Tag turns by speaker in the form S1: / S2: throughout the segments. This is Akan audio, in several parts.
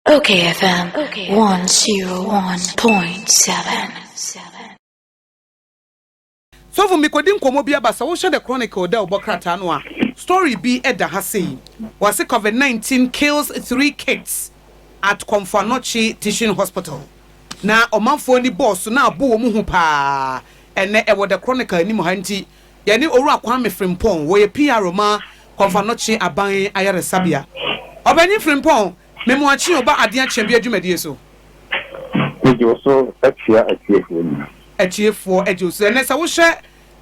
S1: Okay FM 101.7
S2: Sɔfo mekɔdi nkɔmmɔ bi aba sɛ wohwɛ The Chronicle dɛ ɔbɔ krataa no a story bi da ha sei. Wɔse Covid 19 kills three kids at Komfo Anokye Teaching Hospital na ɔmanfoɔ ani bɔɔso na abo wɔn ho paa ɛnɛ ɛwɔ The Chronicle anim ha nti Yɛne Owura Kwame Frimpong, wɔyɛ PRO ma Komfo Anokye Aban Ayaresabea. Ɔpanyin Frimpong, me Moakye Oba Adeɛ Akyɛmbiɛ dwumadie so. Megye
S3: wo so kyea atiefoɔ nyinaa. Atiefoɔ
S2: gye wo so. Ɛnnɛ sɛ wohwɛ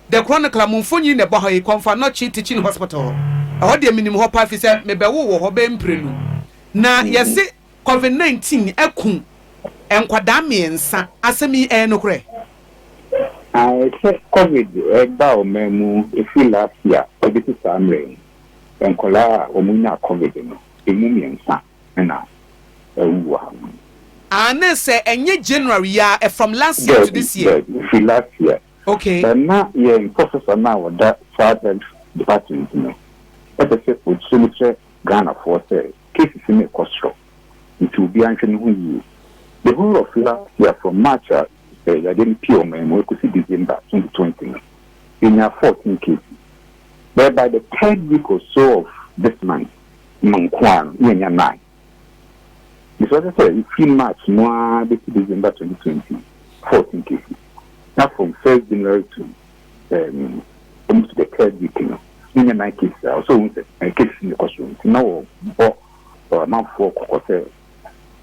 S2: The Chronicle a, mo mfonyin na ɛbɔ ha yi, Komfo Anokye Teaching Hospital. Ɛhɔ deɛ menim hɔ paa, ɛfiri sɛ mebɛwoo wɔ hɔ bɛyɛ mprenu. Na yɛse Covid nineteen aku nkwadaa mmiɛnsa, asɛm yi ɛyɛ nokorɛ?
S3: Ae sɛ covid ɛɛba ɔman mu ɛfiri last year ɛbɛsi saa mmerɛ yi, nkwadaa a wɔn nyaa covid no ɛmu mmiɛnsa na awu wɔ ha nom. Aane
S2: sɛ ɛnyɛ January yi ara, from last year to this year? Daabi, ɛfiri last year.
S3: Okay. Na
S2: yɛn
S3: professor no a ɔda saa health department no ɛpɛ sɛ ɔkyerɛ mu kyerɛ Ghanafoɔ sɛ cases no rekɔ soro nti obiara nhwɛ ne ho yie. The whole of last year from March a yadeɛ no piee ɔman mu rekɔsi December twenty twenty no, yɛnyaa fourteen cases but by the third week or so of this month no nko ara no na yɛanya nine. Nti sɛ ɔkyerɛ sɛ ɛfiri March mu ara bɛsi December twenty twenty, fourteen cases na from first January to um, almost the third week no ne nyɛ nine cases a ɔsɛ ohun sɛ nine cases na ɛkɔ so nti na wɔbɔ ɔmanfoɔ kɔkɔ sɛ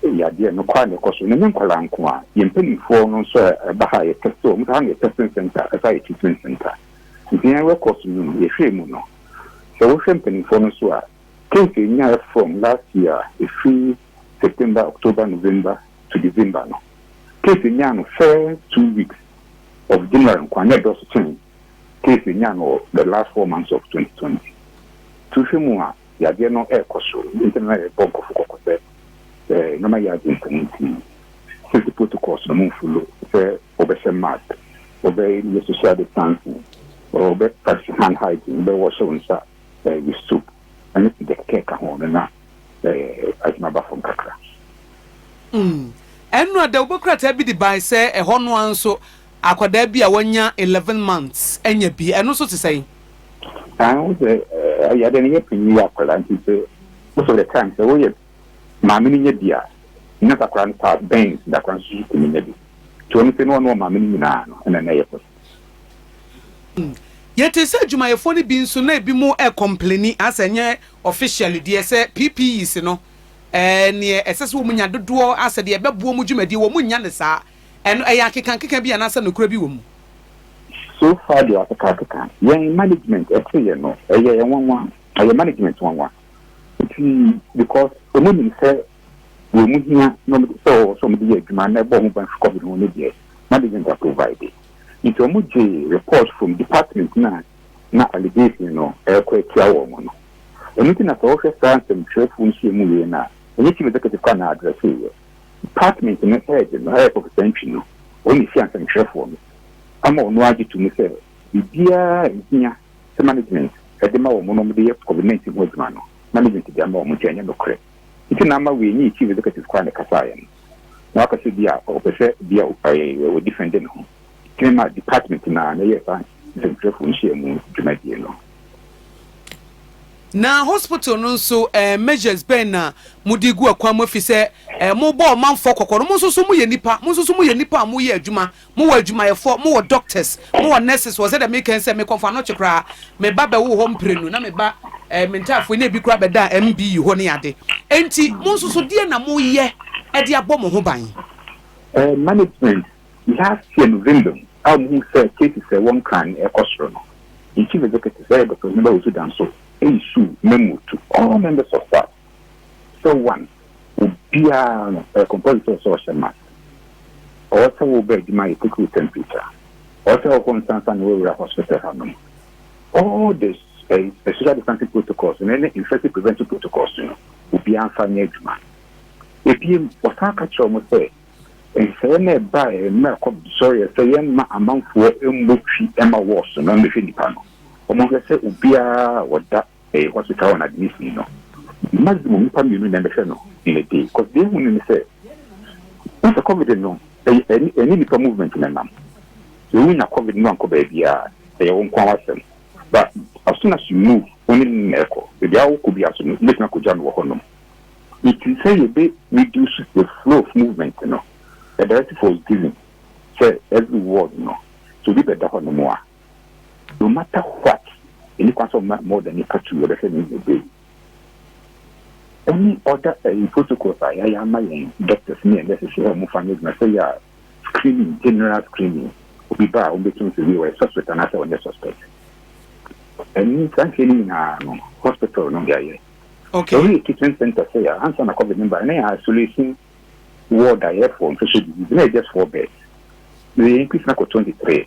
S3: yadeɛ no kɔ a na ɛkɔ so na nyɛ nkwadaa nko a yɛn mpanimfoɔ no nso a ɛba ha yɛ test wɔn sɛ ha na yɛ testing center ɛsa yɛ treatment center nti yɛn records no no yɛhwɛ mu no sɛ wohwɛ mpanimfoɔ no so a case ɛnyaɛ from last year ɛfiri September, October, November to December no, case nyaa no first two weeks of January nkoa na ɛdɔɔso sen case nyaa no wɔ the last four months of 2020. Nti wohwɛ mu a, yadeɛ no ɛrekɔ so. Nti na yɛbɔ nkurɔfo kɔkɔ sɛ eh, nneɛma yɛ agent no nti safety protocols no mu mfolo sɛ wɔbɛhyɛ mask, wɔbɛyɛ social distancing, wɔbɛ practice hand hygiene, wɔbɛwɔhyɛ wo nsa eh, with soap ɛne sida kɛkɛ ka ho no na ɛɛ adwuma ba fam kakra. Mm.
S2: Ɛno a dawubɔ krataa bi de bae sɛ ɛhɔ no ara nso akwadaa bi a wanya eleven months anya bi. Ɛno nso te sɛn? Ah, wo
S3: sɛ ɛyɛ dɛ no yɛ panyin yɛ akwadaa nti sɛ most of the time sɛ woyɛ maame no nya bi a na sakora no paa bɛn sakora nso so tumi nya bi. Nti wɔn sɛ no ɔno maame no nyinaa no ɛna na ɛyɛ pɔs.
S2: Yɛtee sɛ adwumayɛfoɔ no bi nso na ebi mo ɛkɔmpleni a sɛ nyɛ officially deɛ sɛ PPEs no neɛ ɛsɛ sɛ wɔn nya dodoɔ a sɛ deɛ ɛbɛboɔ wɔn dwumadie wɔn nnya no saa ɛno ɛyɛ akekankeka bi anaasɛ nokorɛ bi wɔ mu? So
S3: far deɛ akekankeka yɛn management ɛteeɛ no ɛyɛ nwanwa ɛyɛ management nwanwa nti because wɔn nim sɛ deɛ ɔmo hia na ɔmo de sɛ ɔwɔ sɛ ɔmo de yɛ adwuma na ɛbɔ ɔmo ban fi covid ho no deɛ na the center provide nti ɔmo gye report from department na na allegation no ɛkɔ atia wɔ ɔmo no ɛno nti na sɛ ɔhwɛ saa nsɛmtwerɛfoɔ nhyia mu yie no a ɛnyɛ chief executive kɔ na adrɛse yɛ department no head no ɛyɛ professor ntwi no ɔne hyia nsɛmtwerɛfoɔ no ama ɔno agye to mu sɛ biribiara ɛhia sɛ management ɛde ma wɔn na wɔde yɛ covid nineteen ho adwuma no management de ama wɔn nti ɛnyɛ nokorɛ. Nti na ama weenyii chief executive koraa na ɛkasaeɛ no. Na waka sɛ bi a ɔpɛ sɛ bi a ɛɛ wɔ defende ne ho. Nti na ɛma department no ara na ɛyɛɛ saa nsɛntwerɛfoɔ nhyiamu dwumadie no.
S2: Na hospital no nso ɛɛ measures bɛn na mode gu akwan mu efisɛ ɛɛ mobɔ ɔmanfoɔ kɔkɔ no mo nso so moyɛ nnipa, mo nso so moyɛ nnipa a moyɛ adwuma Mo wɔ adwumayɛfoɔ, mo wɔ doctors, mo wɔ nurses wɔ sɛdeɛ meka yi sɛ me kɔmfo anɔkye koraa me ba bɛwoo hɔ mprenu na me ba eh, me ntaafoɔ ne ebi koraa bɛdaa MB yi hɔ ne ade. Enti mo nso so deɛ na mo yɛ ɛde abɔ mo ho ban? Eh,
S3: management last year November a wɔn ho sɛ cases a ɛwɔ nkran no ɛkɔ soro no, yɛn chief executive ɛyɛ Dr. Onyeba Osudanso ɛyi suu mɛmu to all members of staff. sɛ one, obiara no ɛyɛ compulsory sɛ ɔhyɛ mask. Ɔwɔ sɛ woba adwuma yɛ take wo temperature. Ɔwɔ sɛ ɔkɔ nsa nsa na wawura hospital hanom. All the eh, social distancing protocols no ne infection prevention protocols no obiara mfa nyɛ adwuma. Ebiem, ɔsan ka kyerɛ wɔn sɛ nsɛeɛ na ɛbaeɛ mmerɛ kɔ sɔreɛ sɛ yɛmma amanfoɔ mmɔ twi ma wɔɔso na wɔmmɛhwɛ nnipa no. Wɔhwɛ sɛ obiara ɔda Ɛyɛ hospital a na ade no sii no. Maximum nnipa mmienu na ɛbɛhwɛ no in a day cause deɛ ehu no ne sɛ na sɛ covid no ɛyɛ ɛne ɛne nipa movement na ɛnam. So wonya covid no ankɔ baabiara ɛyɛ wo nko ara w'asɛm but as soon as you move wo ne no na ɛkɔ. Baabiara wokɔ biara so no wobɛtumi akɔgya no wɔ hɔ nom. Nti sɛ yɛbɛ reduce the flow of movement no the directive was given sɛ every ward no sɛ obi bɛda hɔ nom a, no matter what, ɛni kwan sɛ ɔma more than nipa two yɛbɛhwɛ no ɛnyɛ day. Any other uh, protocols a yɛayɛ ama yɛn doctors ne yɛn nurses sɛ wɔn fa nyɛ adwuma sɛ yɛ a screening general screening obi ba a wɔn bɛtum sɛ wei wɔyɛ suspect anaasɛ wɔnyɛ suspect. Ɛni saa nhwɛ no nyinaa no hospital no yɛayɛ. Okay. Ɛwɔ yɛ kitchen center sɛ yɛ ansa na covid no ba ne yɛ isolation ward a yɛ for infectious disease na yɛ just four beds. Yɛ increase na kɔ twenty three.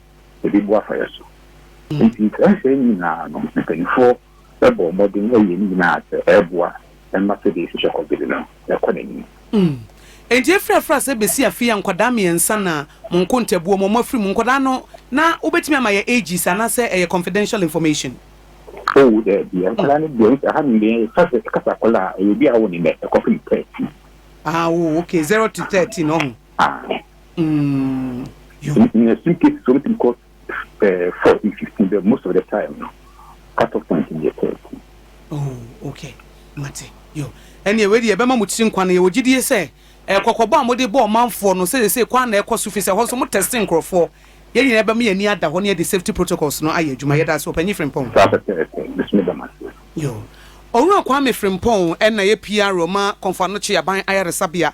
S3: yɛde bu afa yɛn so. Nti saa nsɛm nyinaa no, mpanyinfoɔ bɔ mmɔden yɛ ne nyinaa sɛ ɛboa ma sɛdeɛ yɛsi hwɛ kɔgede no ɛkɔ n'anim. Mm.
S2: Enti efiri afiri ase besi afe yi a nkwadaa mmiɛnsa na mo nkontabuo mu, wɔn afiri mu. Nkwadaa no na wobɛtumi ama yɛ ages anaasɛ ɛyɛ confidential information? Oh
S3: daabi, nkwadaa no deɛ nti aha no deɛ yɛka sɛ kasa akwadaa a ɛyɛ obi a awo ne nɛ ɛkɔpem thirteen. Ah oh
S2: okay, zero to thirteen ɔho. Ah. Mm,
S3: in, in extreme cases, something called uh, 14, 15, but most of the time, no, cut off point in the 30. Oh,
S2: okay. Mate, yo. Ɛne ɛwɛ deɛ ɛbɛma mo tiri nkwa no yɛwɔ gyidie sɛ ɛkɔkɔbɔ a mode bɔ ɔmanfoɔ no sɛ sɛ kwan na ɛkɔ so fi sɛ hɔ nso mo tɛste nkurɔfoɔ yɛn nyinaa ɛbɛma yɛn ani ada hɔ ne yɛde safety protocols no ayɛ adwuma yɛda ase ɔpanyin Frimpong. Saa pɛpɛɛpɛ, mesome da mo ase. Yo. Owura Kwame Frimpong ɛna yɛ PR ma Kɔmfo Anokye Aban Ayaresabea.